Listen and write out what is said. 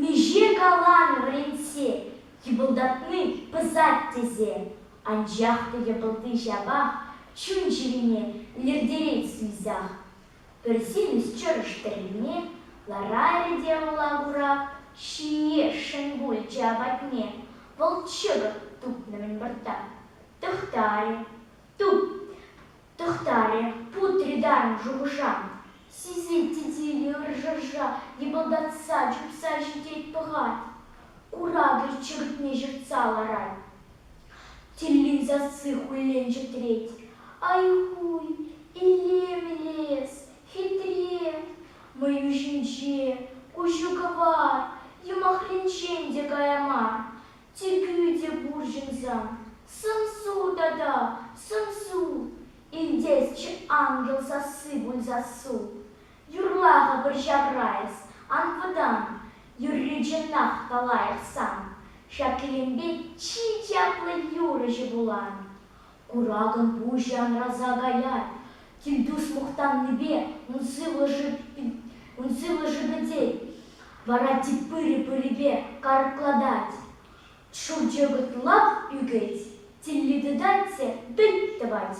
Миҫе каланӑ вӗрентсе йӑпӑлтатни пӑсать тесе, анчах та йӑпӑлти ҫапах чун-чӗрине лӗртерет суйсах. Пӗр симӗс чӑрӑш тӗррине ларарӗ те Мӑлакурак ҫине шӑн пулчӗ апатне, пӑлчӑкӑн тупнӑ-мӗн выртта. Тӑхтарӗ, Туп! тӑхтарӗ, путрӗ тарӑн шухӑша. Сисет-и тилӗ ӑршӑша йӑпӑлтатса, чупса ҫитет пӑхать. Куракӗ чӗртме ҫыртса ларать. Тиллин сасси хуллен чӗтрет. Ай-хуй, Иллем лес, хитре! Мӑю ҫинче, куҫу кӑвар, юмахринчен те кая мар. Чикӳ те пур ҫынса, сӑмсу тата сӑмсу, илтесчӗ ангел сасси пуль сассу. Юрла-ха пӗр ҫавра эс, ан вӑтан, юрри чӑнах та лайӑх сан, ҫак кӗлемпе чи чаплӑ юрӑҫӑ вулан. Куракӑн пуҫӗ анраса каять, килтуш мухтаннипе ун сывлӑшӗ пӗтет, вара тип пырӗ-пырӗпе карклатать, шӑлчӑкӑт лап ӳкет, тилли тытать те пӗлт тӑвать.